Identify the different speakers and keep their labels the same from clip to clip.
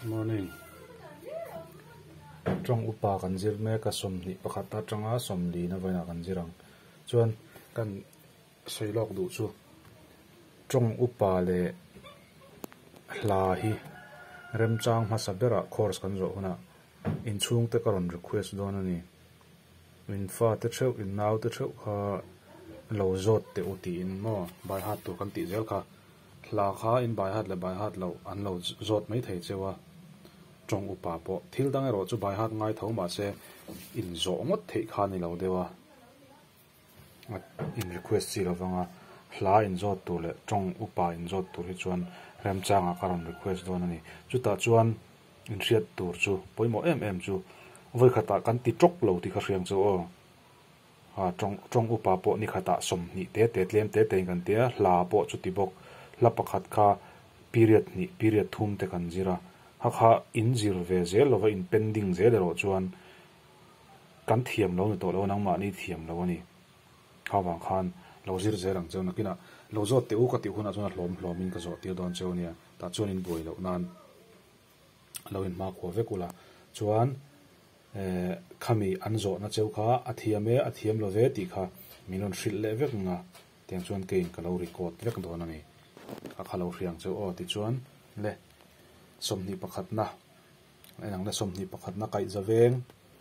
Speaker 1: Morning, Tawng upa kan zir mek a, sawmhnih pakhat atanga sawmli na vawiinah kan zir ang. Chuan kan sawi lawk duh chu tawng upa leh hla hi remchang hmasa berah course kan zawh hunah inchhungte ka rawn request dawn a ni. Min fate theuh, in naute theuh kha lo zawt teh u tiin maw baihat tur kan tih zel kha. Hla kha inbaihat leh baihat loh an lo zawt mai thei cheu a, tawng upa pawh thil dang erawh chu baihat ngai tho mah se inzawh ngawt theih kha a ni lo deuh a, a in request chi lo vang a, hla inzawt tur leh tawng upa inzawt tur hi chuan Remchanga ka rawn request dawn a ni. Chutah chuan inhriat tur chu pawimawh em em chu vawikhatah kan ti tawk lo tih ka hriang che aw. A tawng tawng upa pawh nikhatah sawmhnih te te tlem te tein kan tia, hla pawh chu ti bawk. Hla pakhat kha period hnih, period thum te kan zir a, hakha in zir ve zel lova in pen ding zel erawh chuan kan thiam lo ni tawh lo, nangmahni thiam lo a ni. Kha vang khan lo zir zel ang cheu, nakinah lo zawt teh u ka tih hunah chuan a hlawm hlawmin ka zawh tir dawn cheu a nia, tah chuan in buai loh nan. a lo inhma khua vek ula chuan eh khami an zawhna cheu kha a thiam e a thiam lo ve tih kha min rawn hrilh leh vek nga tiang chuan keiin ka lo record vek dawn a ni a kha lo hriang cheu aw tichuan le sawmhnih pakhatna a inang le sawmhnih pakhatna kaihzaveng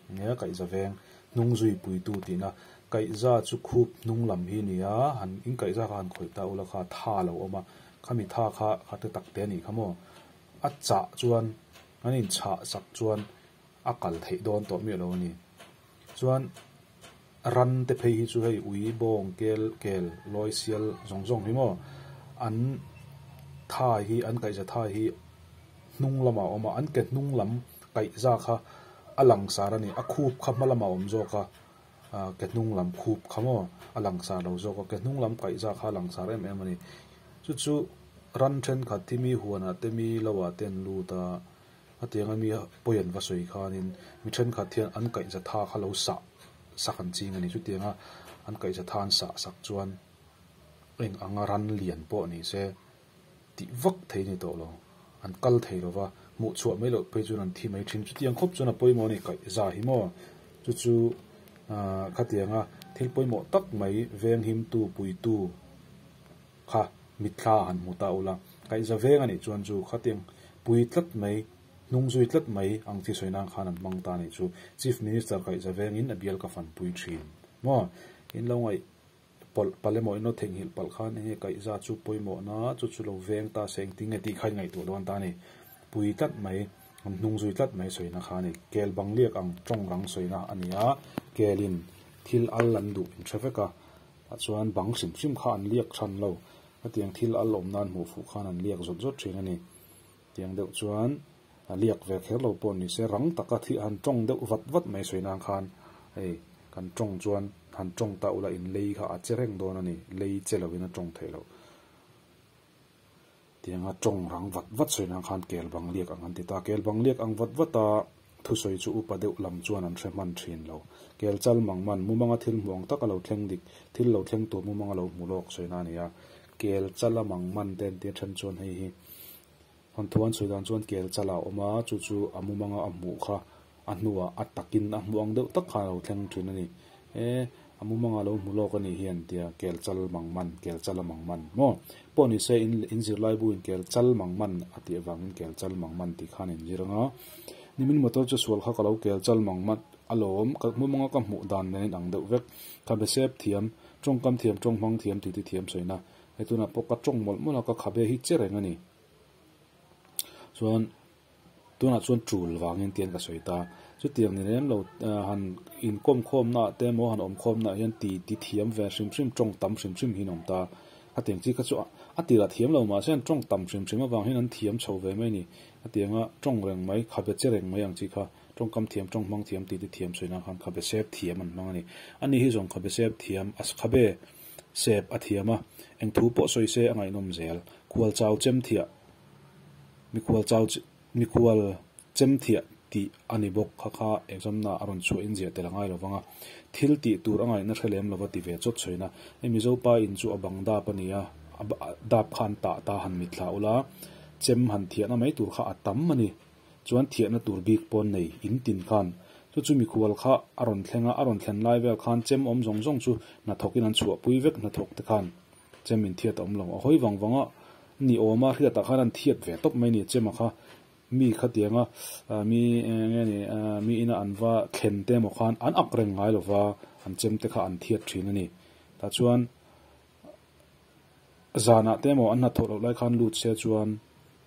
Speaker 1: enge kaihzaveng hnung zui puitu tihna kaihza chu khup hnung lam hi nia han in kaihza kha han khawih ta ula kha tha a lo awm a khami tha kha kha hre tak te a nih kha maw. A chah chuan an inchhah sak chuan a kal theih dawn tawh miah lo a ni. Chuan rante phei hi chu hei ui, bawng, kel, kel, lawi sial zawng zawng hi maw an thai hi, an kaihza thai hi hnung lamah a awm a, an ke hnung lam kaihza kha a langsar a ni. A khup kha hma lamah a awm zawk a. Ahh ke hnung lam khup kha maw a langsar lo zawk a, ke hnung lam kaih zah kha a langsar em em a ni. Chu chu ran thenkhat hi mi huanah te mi lo ah te an lut a, hetiang a mi pawi an va sawi khanin mi thenkhat hian an kaih za tha kha lo sah sak an ching a ni. Chutiang a an kaih za tha an sah sak chuan eng anga ran lian pawh ni se tih vak thei ni tawh lo. An kal thei lo va, hmuh chhuah mai loh phei chuan an thi mai thin. Chutiang khawp chuan a pawimawh a ni kaih zah hi maw? Chu chu khatiang a, thil pawimawh tak mai venghimtu, puitu kha mitthla han hmu ta ula, kaih za veng a nih chuan chu khatiang pui tlat mai, hnung zui tlat mai ang thi sawi nan khan an hmang ta a nih chu Chief Minister kaih za vengin a bial ka fanpui thin maw? In lo ngaih. Pawlh pale mawina theihnghilh palh khan enge kaih za chu pawimawhna chu chu lo veng ta se engtin nge tih kha i ngaihtuah dawn ta a ni. Pui tlat mai, hnung zui tlat mai sawina khanin kel bang liak ang tawng rang sawina a ni a, kelin thil al an duh in tha vek a, tah chuan bang hrim hrim kha an liak than lo, hetiang thil al awm nan hmuh fuh khan an liak zawt zawt thin a ni. Tiang deuh chuan a liak ve kher lo pawh ni se, rang taka thliah han tawng deuh vat vat mai sawi nan khan hei kan tawng chuan han tawng ta ula in lei kha a che reng dawn a ni, lei che loin a tawng theih loh. Tianga tawng rang vat vat sawi nan khan kel bang liak ang an ti ta, kel bang liak ang vat vat a, Thusawi chu upa deuh lam chuan an hre hman thin lo. Kel chal mang man, mumanga thil hmuang tak a lo thleng dik, thil lo thleng tur mumang a lo hmu lawk sawina a ni a. Kel chal a mang man te an tih a then chuan hei hi, Hawnthuan sawi dan chuan kel chal a awm a, chu chu a mumanga a hmuh kha a hnua a takin a hmuang deuh tak khan a lo thleng thin a ni e. A mumang a lo hmu lawk a nih hian tia kel chal mang man, kel chala mang man maw? Pawh ni se, in in zirlaibu in kel chal mang man a tih avangin kel chal mang man tih khan in zir anga, nimin motor chu sual kha ka lo kel chal mang man alawm, ka mumang a ka hmuh dan nen in ang deuh vek. Ka hmesep thiam, tawngkam thiam, tawng hmang thiam tih te thiam sawi na, he tunah pawh ka tawng mawlh mawlh a, ka khabe hi che reng a ni. Chuan. Tunah chuan tul vangin tian ka sawi ta. Chutiang ni lem lo han inkawm khawmnaah te emaw han awm khawmnaah hian ti ti thiam ve hrim hrim tawng tam hrim hrim hi an awm ta. Ka tiang chi kha chu a ti la thiam lo mahse an tawng tam hrim hrim avangin an thiam chho ve mai ni. Ka tianga tawng reng mai, kha be che reng mai ang chi kha tawngkam thiam, tawng hmang thiam, ti ti thiam sawi nan khan kha be sep thiam an hmang a ni. Ani hi zawng kha be sep thiam, kha be sep a thiam a, eng thu pawh sawi se a ngaihnawm zel. Khualchau chemthiah Mikhual chau chi Mikhual chem thiah tih a ni bawk kha kha examna a rawn chhuah in ziah tel a ngai lo vang a, thil tih tur a ngaihna hre lem lova ti ve chawt chhoin a, I Mizo pa in chu a bang dap a ni a, a dap kha an tah ta han mit hlah ula, chem han thiahna mai tur kha a tam a ni, chuan thiahna tur bik pawn nei in tin khan chu chu Mikhual kha a rawn thleng a, a rawn thlen lai vel khan chem awm zawng zawng chu hnathawk in an chhuah pui vek, hnathawk te khan chem in thiat a awm lo a hawi vang vang a, Ni awm a, hriat ah khan an thiat ve tawp mai a ni che maw kha, mi khatiang a mi enge ni mi ina an va thlen te emaw khan an ak reng ngai lova an chem te kha an thiat thin a ni. Tah chuan zan ah te emaw an hnathawh loh lai khan lut se chuan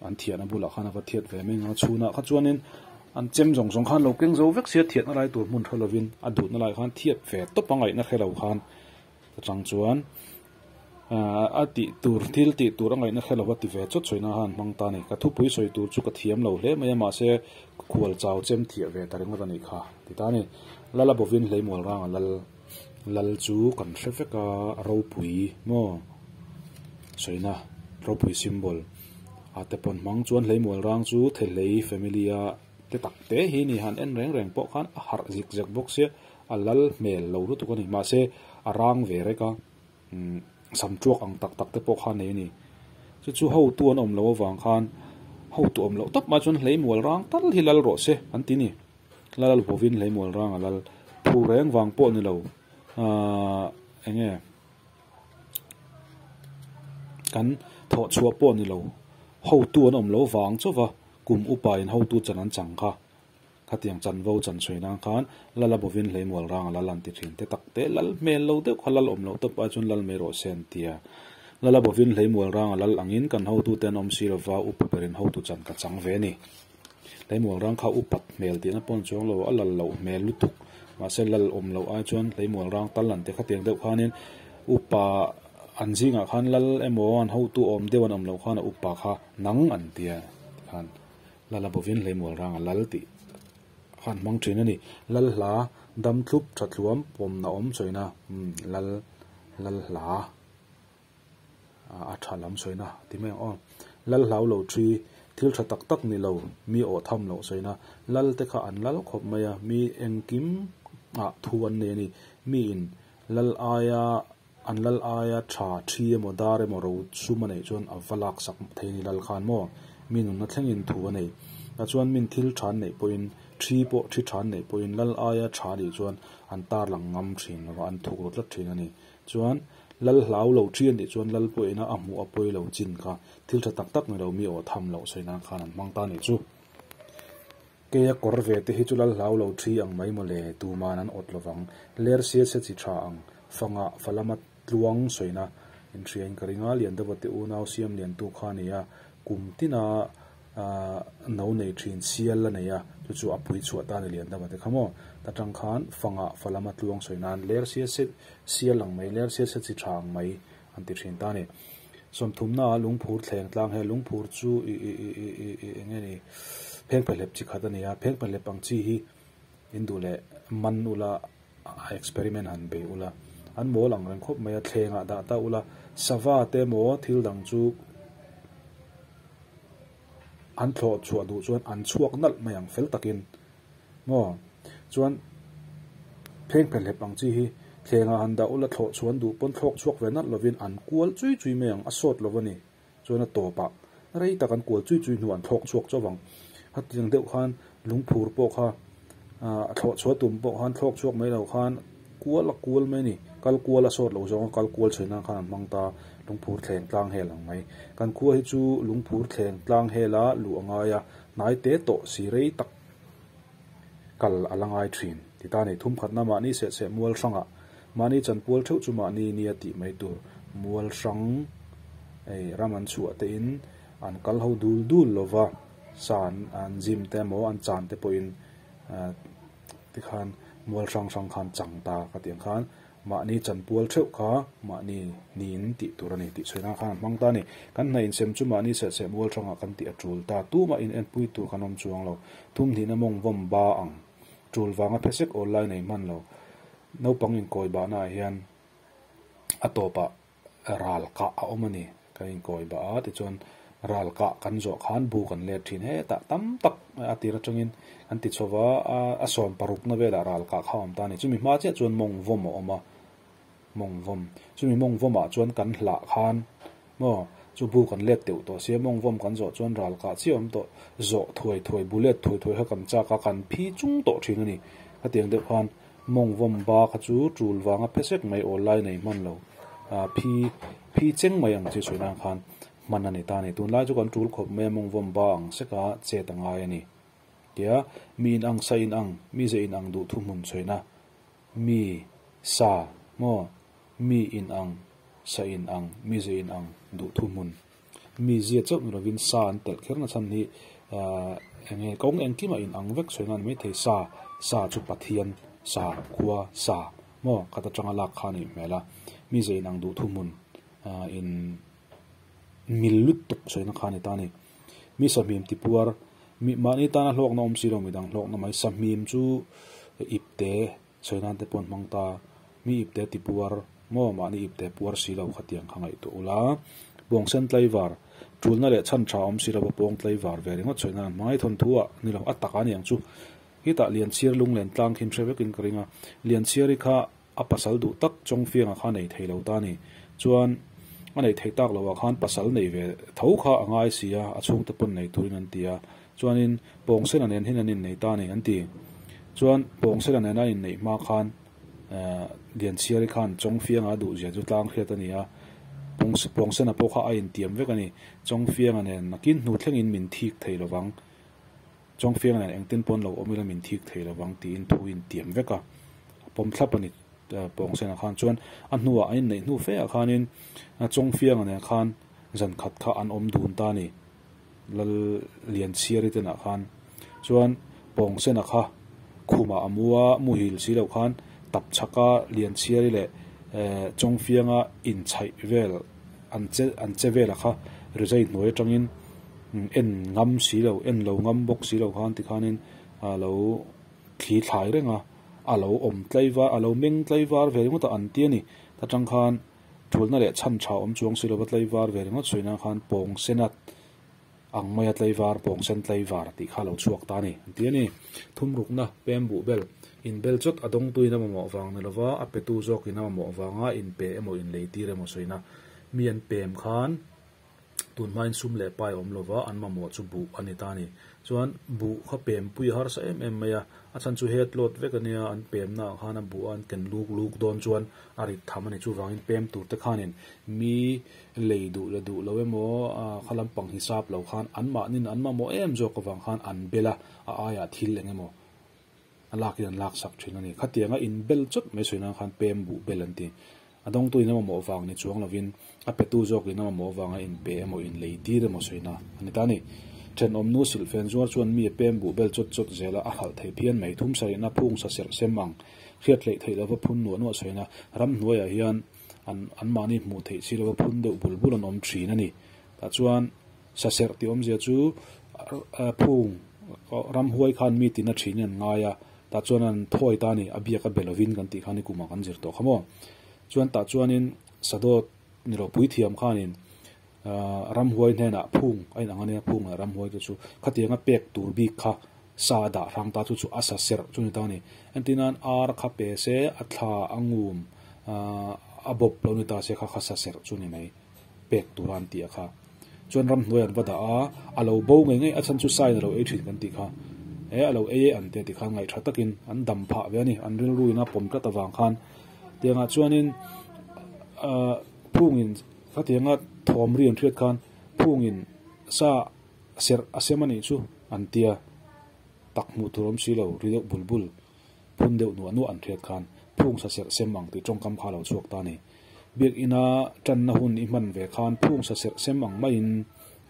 Speaker 1: an thian a bulah khan a va thiat ve mai ngang a, chhun ah kha chuanin an chem zawng zawng khan lo keng zo vek sia thiatna lai tur hmun tha lovin a duhna lai khan thiat ve tawp a ngaihna hre lo khan chang chuan a tih tur thil tih tur a ngaihna hre lova ti ve chawt sawi nana an hmang ta ni ka thupui sawi tur chu ka thiam lo hle mai a mahse ka khual chau chem thiah ve ta ringawt a nih kha ti ta a ni lala bawvin hleihmual ranga lal lal chu kan hre vek a ropui maw sawina ropui symbol ah te pawn hmang chuan hleihmual rang chu thehlei family a te tak te hi a ni han en reng reng pawh khan a harh zik zek bawk sia. A lal hmel lo lutuk a ni. Mahse, a rang ve rek a, umm, sam ṭuak ang tak tak te pawh kha nei a ni. Chu chu hotu an awm lo avang khan, hotu awm loh tak mah chuan hleimual rang tal hi lal rawh se an ti ni. Lal vawvin hleimual rang a lal. Thu reng vang pawh ni lo. Aaa, eng nge, kan thawh chhuah pawh ni lo. Hotu an awm lo vang chauh va, kum upa in hotu chan an chang kha. Khatiang chanvo chan chhawih nan khan lal a bovin hleimual rang a lal an ti thin te tak te lal hmel lo deuh kha lal awm loh tawp a chuan lal mai rawh se an tia lal a bovin hleimual rang a lal angin kan hotu te an awm si lova upa berin hotu chan ka chang ve ani hleimual rang kha upat hmel tihna pawn chuang lo a lal loh hmel lutuk mahse lal awm loh ai chuan hleimual rang tal an ti khatiang deuh khanin upa an zingah khan lal emaw an hotu awm deuh an awm loh khan a upa kha nang an tia tikhan Lala bawvin hleimual rang a lal tih khan hmang thin a ni. Lal hla dam thlup tha thluam pawmna awm chawina lal lal hla a tha lam sawina a ti mai ang aw. Lal hlau lo thi thil tha tak tak ni lo mi awh tham loh sawina lal te kha an lal khawp mai a mi engkim ah thu an nei a ni. Mi in lal aia An lal aia tha, thi emaw dar emaw ro sum a neih chuan a va lak sak thei a ni lal khan maw? Mi nunna thlengin thu a nei. Tah chuan min thil than neih pawhin, thi pawh thi than neih pawhin lal aia tha nih chuan an tarlang ngam thin lo va, an thuk ru tlat thin a ni. Chuan lal hlau lo ṭhian nih chuan lal pawh ina a hmuh a pawi lo chin kha, thil tha tak tak ni lo mi aw tham loh sawi nan khan an hmang ta nih chu. Keia kawr ve te hi chu lal hlau lo thi ang mai mawle, tuman an awt lovang. Lersia chhe chi tha ang. Fanga, falama tluang sawina inhriain ka ring a, lian deuh vate unau siam liantu kha nei a, kum tina ahh no nei thin sial la nei a, chu chu a pui chhuah ta a ni lian deuh vate kha maw? Ta tang khan, fanga, falama tluang sawi nan, lersia chhe sial ang mai, lersia chhe chi tha ang mai, an ti thin ta a ni. Sawmthumna ah lungphur thleng tlang he lungphur chu i-i-i-i-i-i eng nge ni pheng phahlep chi khat a ni a, pheng phahlep ang chi hi in duh leh man ula a experiment han be ula an mawl ang reng khawp mai a, thleng ah dah ta ula sava te emaw thil dang chu an thlawh chhuah duh chuan an chhuak nalh mai ang fel tak in Maw? Chuan pheng phe hlep ang chi hi thlengah han dah ula thlawh chhuan duh pawn thlawk chhuak ve nalh lovin an kual chui chui mai ang, a sawt lo a ni. Chuan a tawp a, rei tak an kual chui chui hnuah an thlawk chhuak chu avang. Hati ang deuh khan lungphur pawh kha a thlawh chhuah tum pawh khan thlawk chhuak mai lo khan kual a kual mai a ni. Kal kual a sawt lo zawng a, kal kual chhe nan khan an hmang ta a, lungphur thleng tlang hel ang mai. Kan khua hi chu lungphur thleng tlang hela luh a ngai a, hnai te tawh si rei tak. Kal a la ngai thin. Ti ta nei thum khatna mahni seh seh Mualhranga mahni chan pual theuh chu mahni nia tih mai tur Mualhrang ei ram an chhuah te in an kal ho dul dul lo va, sa an an zim te emaw an chan te pawh in ahh tikhan Mualhrang hrang khan chang ta ka ti ang khan Mahni chan pual theuh kha mahni niin tih tur a ni tih chhuina khan an hmang ta a ni. Kan hna insem chu mahni selseh mual thanga kan tih a tul ta. Tuma inenpui tur kan awm chuang lo. Thumhnihna mawng vawm ba ang. Tul vanga phesek awl lai nei hman lo. Naupang inkawibahnaah hian a tawpah ral kah a awm a ni. Ka inkawi ba a, tichuan ral kah kan zawh khan bu kan let thin e ta tam tak a tir atangin kan ti chho va, a sawm parukna velah ral kah kha a awm ta a ni. Chumi hma chiah chuan mawng vawm a awm a, mawng vawm. Chumi mawng vawmah chuan kan hlah khan maw chu bu kan let teuh tawh se, mawng vawm kan zawh chuan ral kah chiah awm tawh, zawh thuai thuai, bu let thuai thuai kha kan chak a, kan phi chung tawh thin a ni. Khatiang deuh khan Mawngvawm ba kha chu tul vanga phe sek mai awl lai nei hman lo, ah phi phi cheng mai ang chi sawinan khan hman a ni ta ni. Tunlai chu kan tul khawp mai a mawngvawm ba ang seka chet a ngai a ni tia mi in ang sa in ang, mi ze in ang duh thu hmun chhoina mi sa maw mi in ang sa in ang mi ze in ang duh thu hmun Mi zia chauh nu lovin sa an telh kher nachhan hi eng nge kawng engkima in ang vek sawi nan maithei sa, sa chu Pathian, sa, khua, sa maw khat atanga lak kha a nih hmel a, mi zia in ang duh thu hmun in mil lut tuk sawina kha a ni ta a ni. Mi sahmim tipuar, mi mahni tana hlawkna awm si lo midang hlawkna mai sahmim chu ipte, Chhawina te pawh hmang ta, mi ipte tipuar maw mahni ipte puar si lo kha tiang kha ngaih tawh u la, pawng sen tlaivar, tulna leh chhan tha awm si lova pawng tlaivar ve ringawt chhawina an hmangaih thawn thu a ni lo, a tak a niang chu. Hi tah Lianchhir lunglen tlang khi hre vekin ka ring a, Lianchhir-i kha a pasal duh tak Chawngfianga kha nei thei lo ta a ni, chuan a nei thei tak lo ah khan pasal nei ve tho kha a ngai si a, a chhungte pawn nei turin an ti a, Chuanin Pawngsela nen hian an inneih ta a ni, an ti. Chuan Pawngsela nena a inneih hma khan Lianchhiari khan Chawngfianga duhzia chu tlang hriat a ni a, Pawngsena pawh kha a intiam vek a ni. Chawngfianga nen nakin hnu thlengin min thik thei lo vang, Chawngfianga nen engtin pawn lo awm ila min thik thei lo vang tiin thu a intiam vek a, a pawm thlap a ni. Pawngsena khan chuan a hnuah a inneih hnu fêah khanin Chawngfianga nen khan zan khat kha an awm dun ta a ni. Lal Lianchhiari te nah khan chuan pawng sena kha khumah a mu a, muhil si lo khan Tapchhaka, Lianchhiari leh Chawngfianga inchaih vel an che an che vela kha rizai hnuai atangin en ngam si lo, en lo ngam bawk si lo khan tikhanin a lo thli thlai reng a, a lo awm tlai var, a lo meng tlai var ve ringawt a an ti a ni. Tah tang khan. Ṭhulhna leh chhan ṭha awm chuang si lo va tleivar ve ringawt suih nan khan pawng sena ang maia tleivar pawng sen tleivar tih kha a lo chhuak ta a ni. An ti a ni. Thum rukna, pem buh bel, in bel chawt a dawng tuin a mamawh vang ni lova, a petu zawkin a mamawh vanga in pe emaw in lei tir emaw sawina mi an pem khan tun hmain sum leh pai awm lova an mamawh chu buh a ni ta ni. Chuan buh kha pempuia harsa em em mai a, a chhan chu het lawt vek a nia, an pemnaah khan a buh a an ken luk luk dawn chuan a rit tham a ni. Chuvangin pem tur te khanin mi lei duh le duh lo emaw, kha lampang hisap lo khan anmahnin an mamawh em zawk avang khan an bel a, a aiah thil eng emaw A lak hi an lak sak thin a ni. Khatianga in bel chawt mai sawi nan khan pem buh bel an ti. A dawngtu in a mamawh vang ni chuang lovin, a petu zawk in a mamawh avanga in pe emaw in lei tir emaw sawi na a ni ta a ni. Then awmnu silhfen zuar chuan mi a pem buh bel chawt chawt zel a a hralh thei phian mai. Thum sa rihna phung sa serh sem ang, hriattleih theih lova phun nuah nuah sawi na, ram hnuaiah hian an anmahni hmuh theih si lova phun deuh bul bul an awm thin a ni. Tah chuan. Sa serh ti awmzia chu phung ram huai khan mi tina ṭhin in an ngai a, tah chuan an thawi ta a ni, a biak a be lovin kan tih khan i kumah kan zir tawh kha maw. Chuan tah chuanin Sa Dawt ni lo Puithiam khanin ram huai hnenah phung a inang a nia, phung leh ram huai te chu khatianga pek tur bik kha sa a dah hrang ta chu chu a sa serh chu a ni ta a ni. Entinah ar a kha pe se, a thla a ngum a bawp lo ni ta se kha kha sa serh chu a ni mai. pek tura an ti a kha. Chuan ram hnuai an va dah a, a lo bo ngei ngei a chhan chu sain a lo ei thin kan ti kha. E a lo ei e an ti a ti kha ngaih tha takin an dam phah ve a ni, an rilru in a pawm tlat avang khan. Tiangah chuanin ah Phungin khatianga thawm rian hriat khan Phungin sa serh a sem a nih chu an ti a, tak hmuh tur awm si lo ri deuh bul bul. Phun deuh nuah nuah an hriat khan phungsa serh sem ang tih tawngkam kha a lo chhuak ta a ni. Biakina tanna hun i hman ve khan phungsa serh sem ang maiin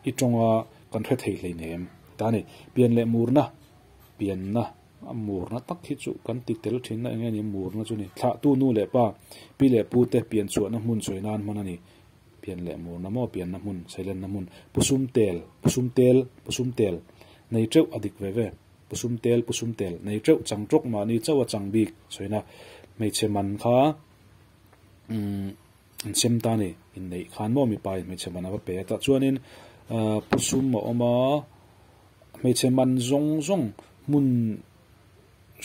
Speaker 1: i tawnga kan hre thei hleinem ta a ni. Pian leh murna, pianna, murna tak hi chu kan ti tel thinna enge ni? Murna chu a ni. Thlahtu nu leh pa, pi leh pu te pian chhuahna hmun sawi nan hman a ni. Pian leh murna maw? Pianna hmun, sailenna hmun. Pusum tel, pusum tel, pusum tel, nei teuh a dik ve ve. Pu Sum Tel, Pu Sum Tel, nei ṭeuh chang ṭawk mahni chauh a chang bik chhoina hmeichhe man kha umm an sem ta a ni, inneih khan maw mipain hmeichhe man a va pe a tah chuanin aah Pu Sum a awm a, hmeichhe man zawng zawng hmun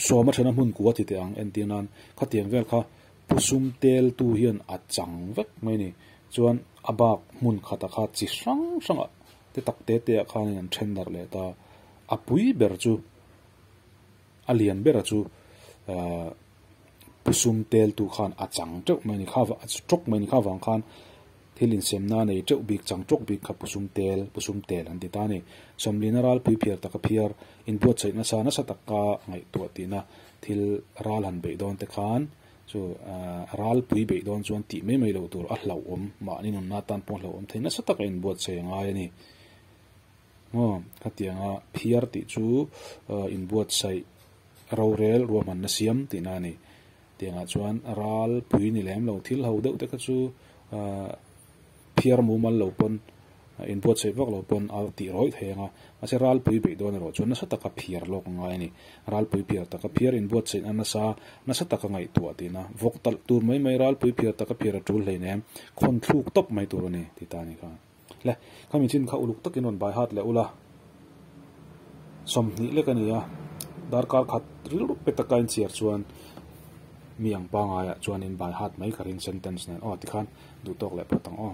Speaker 1: sawma ṭhena hmun kua ti teh ang entir nan khatiang vel kha Pu Sum Tel tu hian a chang vek mai a ni chuan a bak hmun khata kha chi hrang hrangah te tak te teah khanin an ṭhen darh leh ta. A pui ber chu a lian bera chu pu sum tel tu khan a chang teuh mai ni kha a chi tawk mai ni kha vang khan thil in sem na nei teuh bik chang tawk bik kha pu sum tel pu sum tel an ti ta ni. Sawmli na ral pui phiar tak a phiar in buat chhaih nasa nasa tak ka ngaih tuah ti na thil ral han beih dawn te khan chu ral pui beih dawn chuan ti mai mai lo tur a hlauhawm mahni nun na tan pawh hlauhawm thei nasa tak a in buat chhaih a ngai a ni. Maw? Khatianga phiar tih chu inbuatsaih rorel ruahmanna siam tihna a ni. Tiangah chuan ral pui ni lem lo thil ho deuh te kha chu phiar mumal lo pawn, inbuatsaih vak lo pawn a tih rawih thei ang a. Mahse ral pui beih dawn erawh chuan nasa taka phiar lawk a ngai a ni. Ral pui phiar taka phiar inbuatsaihna nasa nasa taka ngaihtuah tihna, vawk talh tur mai mai ral pui phiar taka phiar a tul hleinem, khawn thluk tawp mai tur a ni, ti ta a ni kha. Hle, kha michin kha uluk takin rawn baihat leh ula, sawmhnih lek a nia, darkar khat rilru pe taka inchhiar chuan mi ang pangaiah chuan in baihat mai ka ring sentence nen aw tikhan duhtawk leh pawt ang aw.